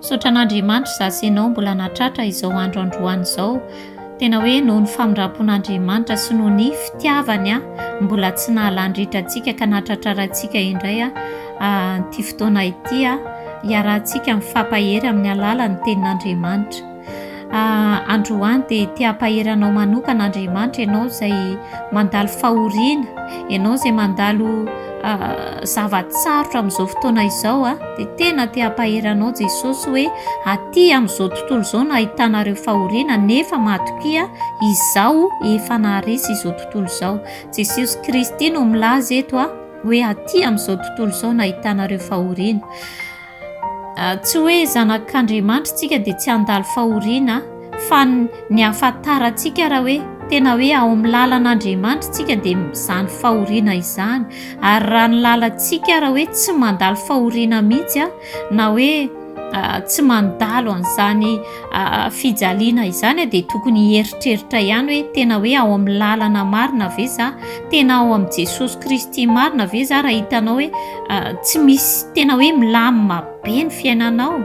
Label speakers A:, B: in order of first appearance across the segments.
A: Misaotra an'Andriamanitra izaho sy ianao mbola nahatratra izao andro androany izao. Tena hoe noho ny famindram-pon'Andriamanitra sy noho ny fitiavany an, mbola tsy nahalàn-dritra antsika ka nahatratrarantsika indray an, ity fotoana ity an, hiarahantsika mifampahery amin'ny alalan'ny tenin'Andriamanitra. Androany dia te hampahery anao manokana Andriamanitra ianao izay mandalo fahoriana, ianao izay mandalo zava-tsarotra amin'izao fotoana izao an, dia tena te hampahery anao Jesosy hoe aty amin'izao tontolo izao no ahitanareo fahoriana nefa matokia Izaho efa naharesy izao tontolo izao. Jesosy Kristy no milaza eto hoe aty amin'izao tontolo izao no ahitanareo fahoriana. Tsy hoe zanak'Andriamanitra tsika dia tsy handalo fahoriana fa ny ahafantarantsika raha hoe tena hoe ao amin'ny lalan'Andriamanitra tsika dia izany fahoriana izany ary raha ny lalantsika raha hoe tsy mandalo fahoriana mihitsy na hoe tsy mandalo an'izany fijaliana izany dia tokony hieritreritra ihany hoe tena hoe ao amin'ny lalana marina ve za tena ao amin'i Jesosy Kristy marina ve za raha hitanao hoe tsy misy tena hoe milamina be ny fiainanao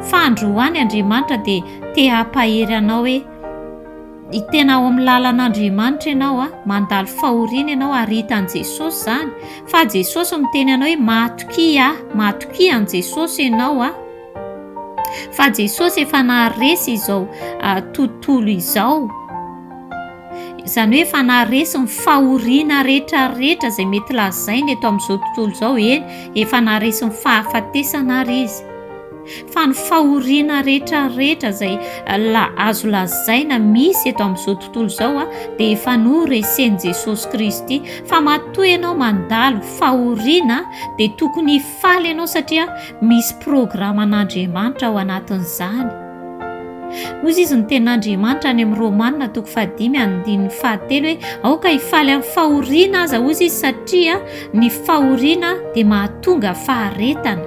A: fa androany Andriamanitra dia te hampahery anao hoe ny tena ao amin'ny lalan'Andriamanitra ianao a mandalo fahoriana ianao ary hitan'i Jesosy izany fa Jesosy miteny anao hoe matokia aho matokia an'i Jesosy ianao a Fa Jesosy efa naharesy izao tontolo izao, izany hoe efa naharesy ny fahoriana rehetrarehetra izay mety lazaina eto amin'izao tontolo izao, eny efa naharesy ny fahafatesana ary Izy. Fa ny fahoriana rehetrarehetra izay la- azo lazaina misy eto amin'izao tontolo izao dia efa noresen'i Jesosy Kristy. Fa matoa ianao mandalo fahoriana dia tokony hif- Faly ianao satria misy programan'Andriamanitra ao anatin'izany. Hoy izy izy ny tenin'Andriamanitra any amin'ny Romana toko fahadimy andininy fahatelo hoe aoka hifaly amin'ny fahoriana aza hoy izy satria ny fahoriana dia mahatonga faharetana.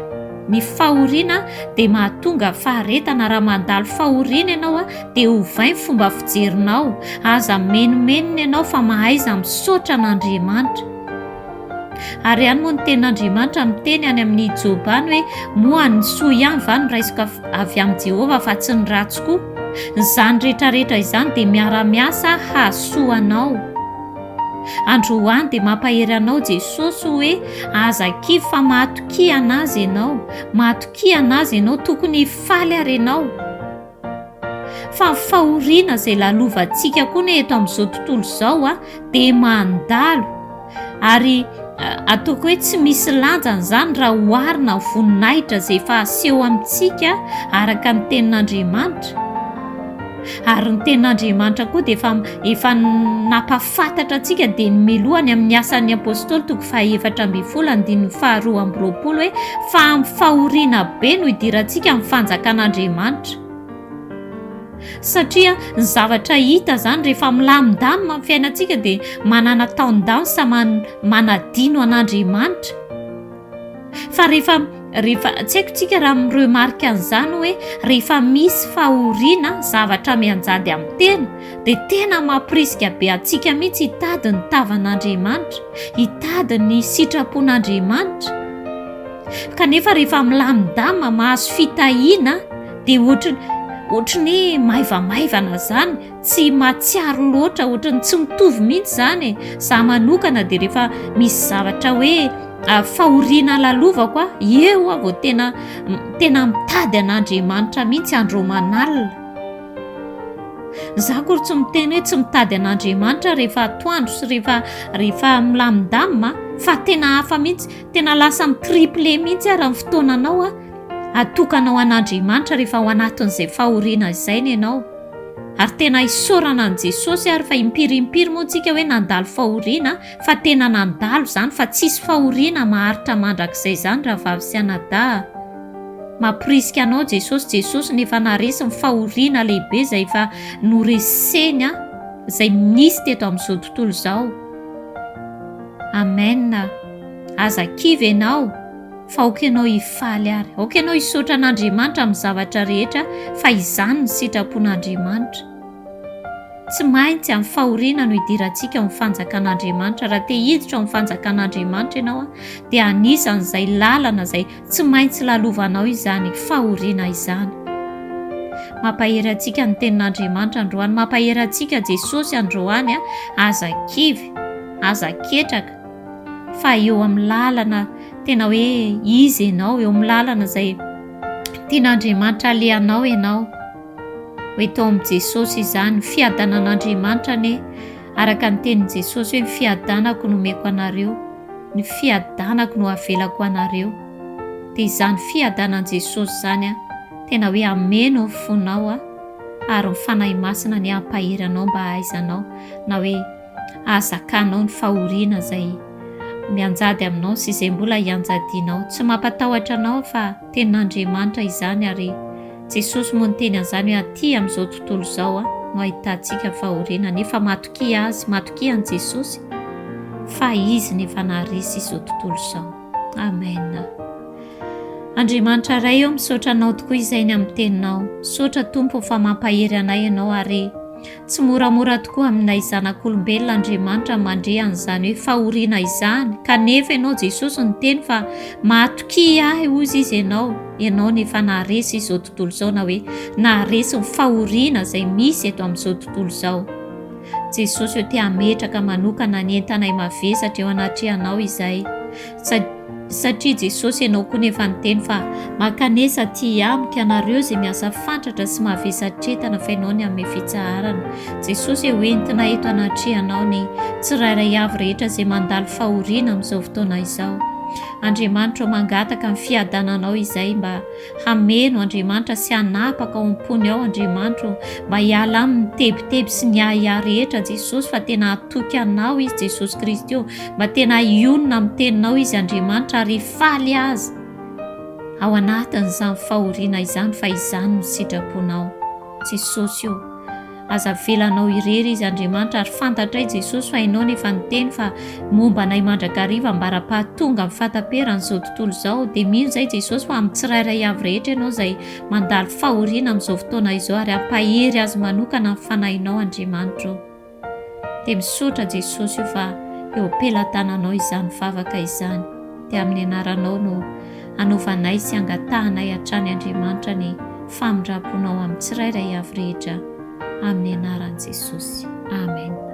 A: Ny fahoriana dia mahatonga faharetana. Raha mandalo fahoriana ianao dia ovay ny fomba fijerinao. Aza menomenona ianao fa mahaiza misaotra an'Andriamanitra. Ary ihany moa ny tenin'Andriamanitra miteny any amin'i Joba any hoe, Moa ny soa ihany va no raisiko avy amin'i Jehovah fa tsy ny ratsy koa? Izany rehetrarehetra izany dia miara-miasa hahasoa anao. Androany dia mampahery anao Jesosy hoe, Aza kivy fa mahatokia an'Azy ianao. Mahatokia an'Azy ianao. Tokony hifaly àry ianao. Fa ny fahoriana izay lalovantsika koa anie eto amin'izao tontolo izao dia mandalo, ary ataoko hoe tsy misy lanjany izany raha oharina amin'ny voninahitra izay efa aseho amintsika araka ny tenin'Andriamanitra, ary ny tenin'Andriamanitra koa dia efa efa nampaf-. Fantatratsika dia ny Miloha ny amin'ny Asan'ny Apôstôly toko fahefatra ambin'ny folo andininy faharoa amby roapolo hoe fa amin'ny fahoriana be no idirantsika ny fanjakan'Andriamanitra. Satria ny zavatra hita izany rehefa milamindamina ny fiainantsika dia manana taon-dansa man- manadino an'Andriamanitra. Fa rehefa rehefa tsy haiko tsika raha miremarque an'izany hoe rehefa misy fahoriana zavatra mianjady amin'ny tena dia tena mampirisika be antsika mihitsy hitady ny tavan'Andriamanitra, hitady ny sitrapon'Andriamanitra. Kanefa rehefa milamindama mahazo fitahiana dia ohatry ohatry ny hoe maivamaivana izany. Tsy mahatsiaro loatra, ohatran'ny tsy mitovy mihitsy izany e! Za manokana dia rehefa misy zavatra hoe fahoriana lalovako a, eo aho vao tena tena mitady an'Andriamanitra mihitsy andro aman'alina. Za akory tsy miteny hoe tsy mitady an'Andriamanitra aho rehefa atoandro sy rehefa rehefa milamindamina fa tena hafa mihitsy, tena lasa mi-tripler mihitsy ary ny fotoananao atokana ho an'Andriamanitra rehefa ao anatin'izay fahoriana izay ny anao. Ary tena isaorana an'i Jesosy ary fa impiry impiry moa tsika hoe nandalo fahoriana fa tena nandalo izany fa tsisy fahoriana maharitra mandrakizay izany rahavavy sy anadahy a! Mamporisika anao Jesosy, Jesosy no efa naharesy ny fahoriana lehibe izay efa noreseny a! izay nisy teto amin'izao tontolo izao. Amen! Aza kivy ianao. fa aoka ianao hifaly ary, aoka ianao hisaotra an'Andriamanitra amin'ny zavatra rehetra fa izany ny sitrapon'Andriamanitra. Tsy maintsy amin'ny fahoriana no hidirantsika ao amin'ny fanjakan'Andriamanitra. Raha te hiditra ao amin'ny fanjakan'Andriamanitra ianao dia anisan'izay lalana izay tsy maintsy lalovanao izany fahoriana izany. Mampahery antsika ny tenin'Andriamanitra androany, mampahery antsika Jesosy androany, aza kivy, aza ketraka. fa eo amin'ny lalana tena hoe izy ianao, eo amin'ny lalana izay tian'Andriamanitra alehanao ianao. Ho eto amin'i Jesosy izany, fiadanan'Andriamanitra anie, araka ny tenin'i Jesosy hoe ny fiadanako no omeko anareo, ny fiadanako no avelako ho anareo. Dia izany fiadanan'i Jesosy izany tena hoe hameno ny fonao ary ny Fanahy Masina anie hampahery anao mba hahaizanao na hoe Ahazakanao ny fahoriana izay mianjady aminao sy izay mbola hianjadianao. Tsy mampatahotra anao aho fa Tenin'Andriamanitra izany ary Jesosy moa niteny an'izany hoe aty amin'izao tontolo izao no ahitantsika fahoriana nefa matokia Azy, matokia an'i Jesosy fa Izy no efa naharesy izao tontolo izao. Amen. Andriamanitra Ray ô misaotra Anao tokoa izay ny amin'ny Teninao. Misaotra Tompo fa mampahery anay Ianao ary Tsy moramora tokoa aminay zanak'olombelona Andriamanitra mandre an'izany hoe fahoriana izany, kanefa Ianao Jesosy niteny fa mahatokia ahy hozy izy Ianao, Ianao no efa naharesy izao tontolo izao na hoe naharesy ny fahoriana izay misy eto amin'izao tontolo izao. Jesosy ô te hametraka manokana ny entanay mavesatra eo anatrehanao izay. satria Jesosy ianao koa no efa niteny fa mankanesa aty amiko ianareo izay miasa fantratra sy mavesatretana fa ianao ny hanome fitsaharana. Jesosy e hoentina eto anatrehanao ny tsirairay avy rehetra izay mandalo fahoriana amin'izao fotoana izao. Andriamanitro o mangataka ny fiadananao izay mba Hameno Andriamanitra sy hanapaka ao am-pony ao Andriamanitra ô. Mba hiala aminy tebiteby sy ny ahiahy rehetra Jesosy fa tena hatoky Anao Izy Jesosy Kristy ô. Mba tena hionona amin'ny Teninao Izy Andriamanitra ary hifaly Azy ao anatin'izany fahoriana izany fa izany no sitraponao Jesosy ô. Aza avela anao irery izy Andriamanitra ary fantatray Jesosy fa ianao no efa niteny fa momba anay mandrakariva ambara-pahatonga ny fahataperan izao tontolo izao dia mino izay Jesosy fa amin'ny tsirairay avy rehetra ianao izay mandalo fahoriana amin'izao fotoana izao ary ampahery azy manokana ny fanahinao Andriamanitra o dia misaotra Jesosy o fa eo am-pelatananao izany vavaka izany dia amin'ny anaranao no Anaovanay sy angatahanay hatrany Andriamanitra ny famindram-ponao amin'ny tsirairay avy rehetra amin'ny anaran'i Jesosy. Amen.